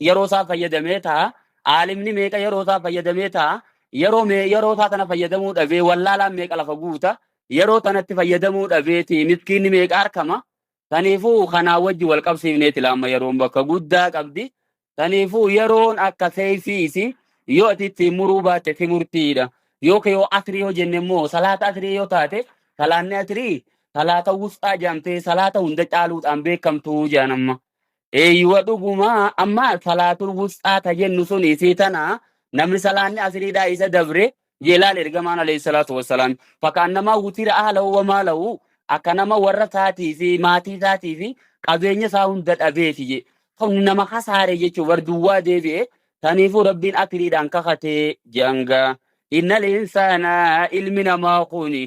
yeroo isaa fayyadamee ta'a. Aalimni meeqa yeroo isaa fayyadamee ta'a. Yeroo mee yeroo isaa tana fayyadamuu dhabee wallaalaan meeqa lafa guuta. Yeroo tanatti fayyadamuu dhabeeti miskiinni meeqa argama. Kanaafuu kanaa wajji wal qabsiifneeti laamma yeroon bakka guddaa qabdi. Kanaafuu yeroon akka seeyfii isii yoo ati ittiin muruu baatte si murtiidha. Yookiin yoo asrii yoo jenne immoo salaata asrii yoo taate salaanni asrii salaata wusxaa jedhamtee salaata hunda caaluudhaan beekamtuu jedhan amma. Eeyyuwa dhuguma amma salaatul wusxaa ta jennu sun isii tana namni salaanni asiriidhaa isa dabre jee laal ergamaan alayhi salaatu wassalaam fakaannamaa wutira ahlahu wa maalahu akka nama warra isaatii fi maatii isaatii fi qabeenya isaa hunda dhabeeti jee kun nama kasaare jechuu bar duwwaa deebi'e saniifuu rabbiin asiriidhaan kakatee janga innal insaana ilmi namaa kuni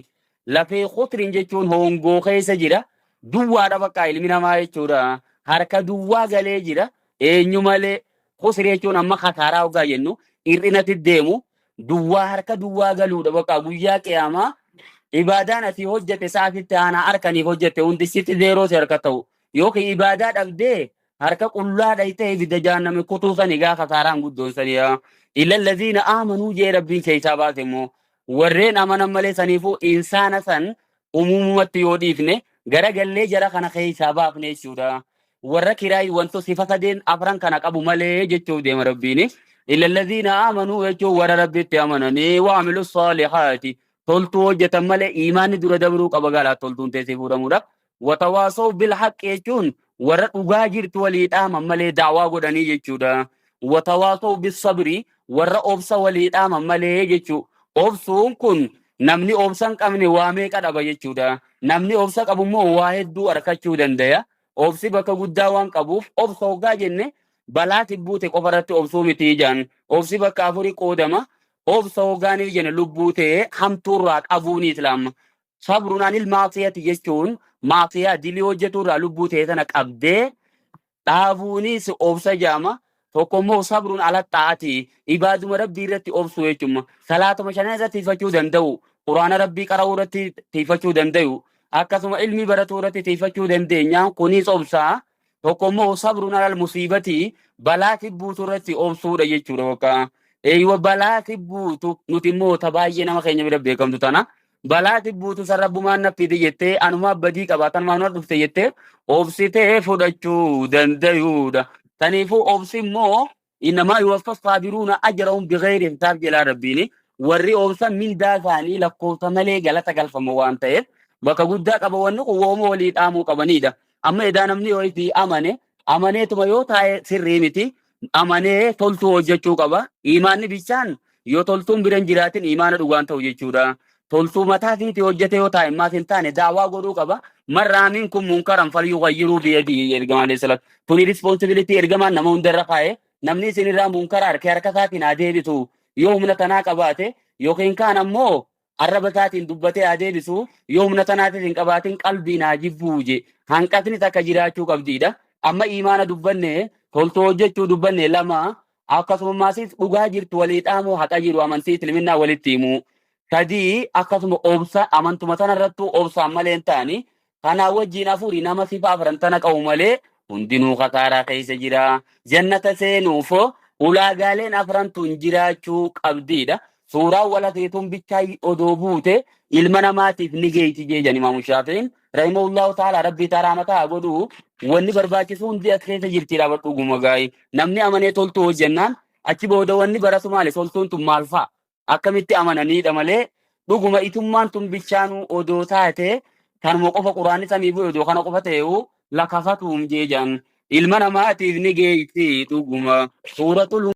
Lafee qutrin jechuun hoongoo keessa jira. Duwwaadha bakka ilmi namaa jechuudha. Harka duwwaa galee jira. Eenyu malee qusri jechuun amma kasaaraa hoggaa jennu hir'inatti deemu duwwaa harka duwwaa galuudha bakka guyyaa qiyaamaa ibaadaan ati hojjete sa'aatitti aanaa harkaniif hojjete hundi sitti zeeroo si harka ta'u yookiin ibaadaa dhabdee harka qullaa dhaytee ibidda jaanname kutuu sani gaa kasaaraan guddoon saniyaa ilalladiina aamanuu jee rabbiin keessaa baase immoo warreen amanan malee saniifuu insaana san umuumumatti yoo dhiifne gara gallee jara kana keessaa baafne jechuudha. Warra kiraay wanto sifa sadeen afran kana qabu malee jechuuf deema rabbiin. Illalladhiina amanuu jechuun warra rabbitti amananii waamilu saalihaati. Toltuu hojjetan malee imaanni dura dabruu qaba galaa toltuun teessee fuudhamuudha. Watawaasaw bil haqqi jechuun warra dhugaa jirtu walii dhaaman malee daawaa godhanii jechuudha. Watawaasaw bis sabri warra obsa walii dhaaman malee jechuu. Obsuun kun namni obsa hin qabne waa meeqa dhaba jechuudha. Namni obsa qabu immoo waa hedduu arkachuu dandaya. Obsi bakka guddaa waan qabuuf obsa hoggaa jenne balaa tibbuute qofa irratti obsuu miti jaan. Obsi bakka afuri qoodama. Obsa hoggaanii jenne lubbuu ta'ee hamtuurraa qabuuni islaama. Sabrun anil maasiyati jechuun maasiyaa dilii hojjetu irraa lubbuu ta'e tana qabdee dhaabuunis obsa jaama. Tokko immoo sabrun ala xaa'ati ibaaduma rabbii irratti obsuu jechuun salaatuma shanan irratti tiifachuu danda'u. Quraana rabbii qara'uu irratti tiifachuu danda'u. Akkasuma ilmii baratuu irratti tiifachuu dandeenya. Kunis obsaa. Tokko immoo sabrun alal musiibati balaa tibbuutu irratti obsuudha jechuudha bakka. Eeywa balaa tibbuutu nuti immoo ta baay'ee nama keenya bira beekamtu tana. balaa tibbuutu san rabbumaan naffiiti jettee anumaa badii qaba tanumaan ol dhufte jettee obsitee fudhachuu dandayuudha. Taniifuu obsi immoo innamaa yuwaffa saabiruuna ajarahum bigayri hisaab jedhaa rabbiini. Warri obsan mindaa isaanii lakkoofsa malee galata galfama waan ta'eef bakka guddaa qaba wanni kun wooma walii dhaamuu qabaniidha. Amma edaa namni yoo itti amane amaneetuma yoo taa'e sirrii miti. amanee toltuu hojjechuu qaba. Imaanni bichaan yoo toltuun bira hin jiraatin imaana dhugaan ta'u jechuudha. Toltuu mataa fiiti hojjete yoo taa'immaaf hin taane daawaa godhuu qaba. Marraamiin kun munkaran falyuu fayyiruu biyadii jedhe ergamaan alayhi salaatu. Tuni rispoonsibilitii ergamaan nama hundarra kaa'e. Namni isinirraa munkara harkee harka isaatiin haa deebisu. Yoo humna tanaa qabaate yookiin kaan ammoo arraba isaatiin dubbatee haa deebisu yoo humna tanaatis hin qabaatin qalbiin haa jibbuu je hanqatni takka jiraachuu qabdiidha amma imaana dubbanne toltuu hojjechuu dubbanne lama akkasumaasis dhugaa jirtu walii dhaamuu haqa jiru amantii isliminaa walitti himuu sadii akkasuma obsa amantuma tanarrattuu obsaan malee hin taani Kanaa wajjiin afuri nama sifa afran tana qabu malee hundinuu kasaaraa keessa jira. Jannata seenuuf ulaagaaleen afran tun jiraachuu qabdiidha. Suuraan walakee tun bichaa odoo buute ilma namaatiif ni geeyti jee jedhan Imaamu Shaafi'iin. Rahimahullahu ta'ala rabbii isaa rahmataa haa godhu. Wanni barbaachisu hundi as keessa jirti dhaaba dhuguma gaayi. Namni amanee toltuu hojjannaan achi booda wanni baratu maali toltuun tun maal fa'a? akkamitti amananiidha malee dhuguma itummaan tun bichaanuu odoo taate kanuma qofa quraanni samii bu'e odoo kana qofa ta'eewu lakafatuum jee jedhan ilma namaatiif ni geessi dhuguma suuratul